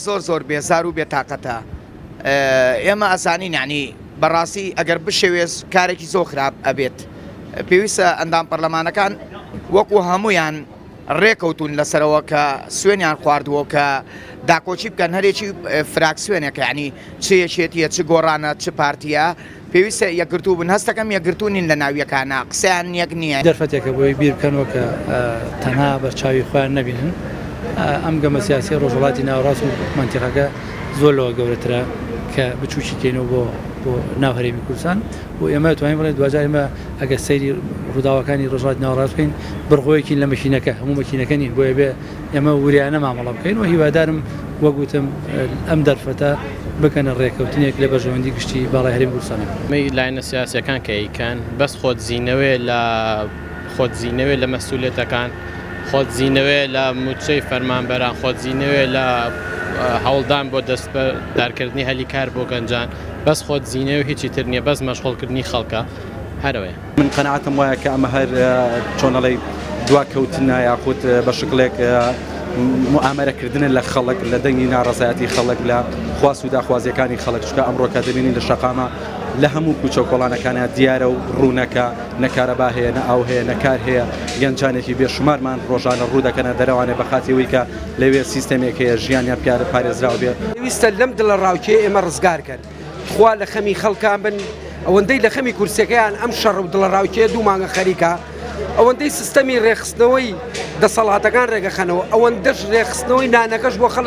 زۆر زۆر بێزار و بێ تاقەتە ئێمە ئەزانین یعنی بەڕاستی ئەگەر بشێوێز کارێکی زۆر خراپ ئەبێت پێویستە ئەندام پەرلەمانەکان وەکو هەمویان ڕێکەوتون لەسەرەوە کە سوێنیان خواردووە کە داکۆچی بکەن هەرێکی فراکسوێنێکە ینی چێشێتیە چ گۆڕانە چ پارتیە پێویستە یەکگرتوو بن. هەستەکەم یەکگرتوو نین لە ناو یەکانە. قسەیان یەک نییە. دەرفەتێکە بۆی بیر بکەنەوە کە تەنها بە چاوی خۆیان نەبینن. ئەم گەمە سیاسییە ڕۆژهەڵاتی ناوەڕاست و مەنتیقەکە زۆر لەوە گەورەترە کە بچووکی کەینەوە بۆ بۆ ناو هەرێمی کوردستان و ئێمە توانین بڵێن دواجار ئێمە ئەگەر سەیری ڕووداوەکانی ڕۆژهەڵاتی ناوەڕاست بکەین بڕگۆیەکین لە مەکینەکە، هەموو مەکینەکە نین بۆیە بێ ئێمە وریایانە مامەڵە بکەین و هیوادارم وەک وتم ئەم دەرفەتە بکەنە ڕێکەوتنێک لە بەرژەوەندی گشتی باڵای هەرێمی کوردستانە. ئەمەی لایەنە سیاسیەکان کە ئەیکەن بەس خۆ دزینەوەیە لە خۆ دزینەوەیە لە مەسئولیەتەکان، خۆ دزینەوەیە لە موچەی فەرمانبەران، خۆ دزینەوەیە لە هەوڵدان بۆ دەستبەردارکردنی هەلی کار بۆ گەنجان، بەس خۆ دزینەوەیە و هیچی تر نیە، بەس مەشغوڵکردنی خەڵکە. هەرەوەیە. من قەناعەتم وایە کە ئەمە هەر چۆن ئەڵێی دواکەوتنە یاخود بە شکلێک موئامەرە کردنە لە خەڵک لە دەنگی ناڕەزایەتی خەڵک لە خواست و داخوازیەکانی خەڵک چکە ئەمڕۆکە دەبینین لە شەقامە لە هەموو کوچە و کۆڵانەکانە دیارە و ڕوونەکە نەکارەبا هەیە نە ئاو هەیە نەکار هەیە گەنجانێکی بێشمارمان ڕۆژانە ڕوو دەکەنە دەرەوانێ بە خاتیەوەی کە لەوێ سیستەمێک هەیە ژیانیان پیارە پارێزراو بێ ویستە لەم دڵە ڕاوکێ ئێمە ڕزگار کەن. تخوا لە خەمی خەڵکان بن ئەوەندەی لە خەمی کورسەکەیان ئەم شەڕ و دڵەڕاوکێ دوو مانگە خەریکە ئەوەندەی سیستەمی ڕێخستنەوەی دەسەڵاتەکان ڕێگەخەنەوە ئەوەندەش ڕێخستنەوەی نانەکەش بۆ خەڵک